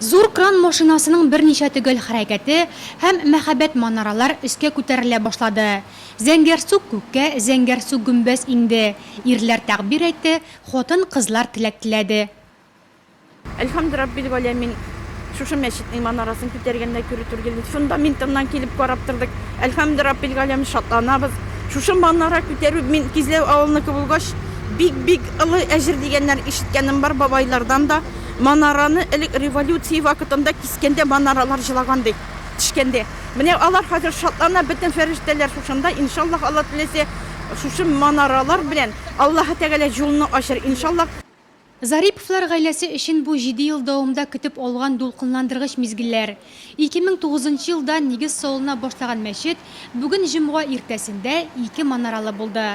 Зур кран машинасының берничә төгәл хәрәкәте, һәм мәһабәт манаралар өскә күтәрелә башлады. Зәңгәр сук күккә, зәңгәр сук гөмбәз иңде. Ирләр тәгъбир әйтте, хатын, кызлар теләк теләде. Әлхәмд раббил галәмин, шушы мәчетнең манарасын күтәргәндә күрүтергелен фундаментыннан килеп карап тордык. Әлхәмд раббил галәмин, шатланабыз. Шушы манара күтәрү, мин Кизләү авылыныкы булгач, Бик бик олы әҗер дигәннәр ишеткәнем бар бабайлардан да. Манараны элек революция вакытында кискәндә манаралар җылаган ди, тешкәндә. Менә алар хәзер шатлана, бөтен фәрештәләр шушында, иншаллаһ Алла теләсә шушы манаралар белән Аллаһы Тәгалә җулны ачыр иншаллаһ. Зариповлар гаиләсе өчен бу җиде ел дәвамында көтеп алган дулкынландыргыч мизгелләр. 2009 нчы елда нигез салына башлаган мәчет бүген җомга иртәсендә ике манаралы булды.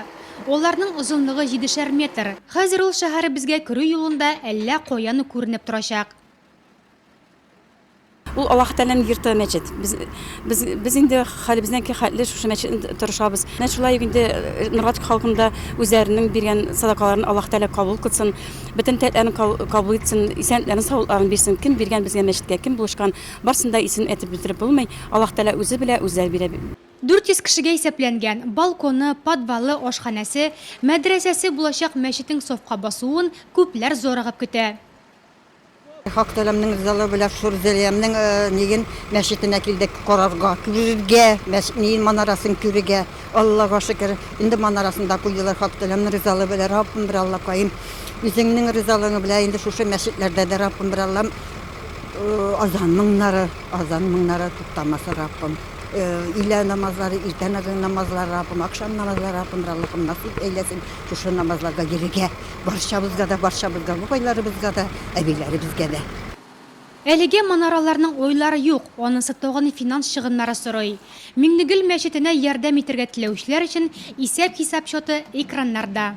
Аларның озынлыгы җидешәр метр. Хәзер ул шәһәребезгә керү юлында әллә каян ук күренеп торачак. Ул Аллаһы Тәгаләнең йорты, мәчет. Без, без, без инде хәлебезнәки хәтле шушы мәчетне торышабыз. Менә шулай ук инде Нурлатка халкының да үзләренең биргән садакаларын Аллаһы Тәгалә кабул кылсын, бөтен теләкләрен кабул итсен, исәнлекләрен, саулыкларын бирсен. Кем биргән безгә мәчеткә, кем булышкан, барысын да исемен әйтеп бетереп булмый. Аллаһы Тәгалә үзе белә, үзләре бирә. 400 кешегә исәпләнгән, балконы, подвалы, ашханәсе, мәдрәсәсе булачак мәчетнең сафка басуын күпләр зарыгып көтә. Хак Тәгаләнең ризалыгы белән Сур Зәлиямнең ниген мәчетенә килдек карарга, күрергә, мәчетнең манарасын күрергә. Аллага шөкер, инде манарасын да куйдылар Хак Тәгаләнең ризалыгы белән. Раббым бер Аллакаем, үзеңнең ризалыгың белән инде шушы мәчетләрдә дә Раббым бер Аллам азан моңнары, азан моңнары туктамасын Раббым. Илә намазлары, иртә намазлары Раббым, ахшам намазлары Раббым бер Аллакаем насыйп әйләсен шушы намазларга йөрергә. Барчабызга да, барчабызга, бабайларыбызга да, әбиләребезгә дә. Әлегә манараларның уйлары юк, анысы тагын финанс чыгымнары сорый. Миңнегөл мәчетенә ярдәм итәргә теләүчеләр өчен исәп-хисап счеты экраннарда.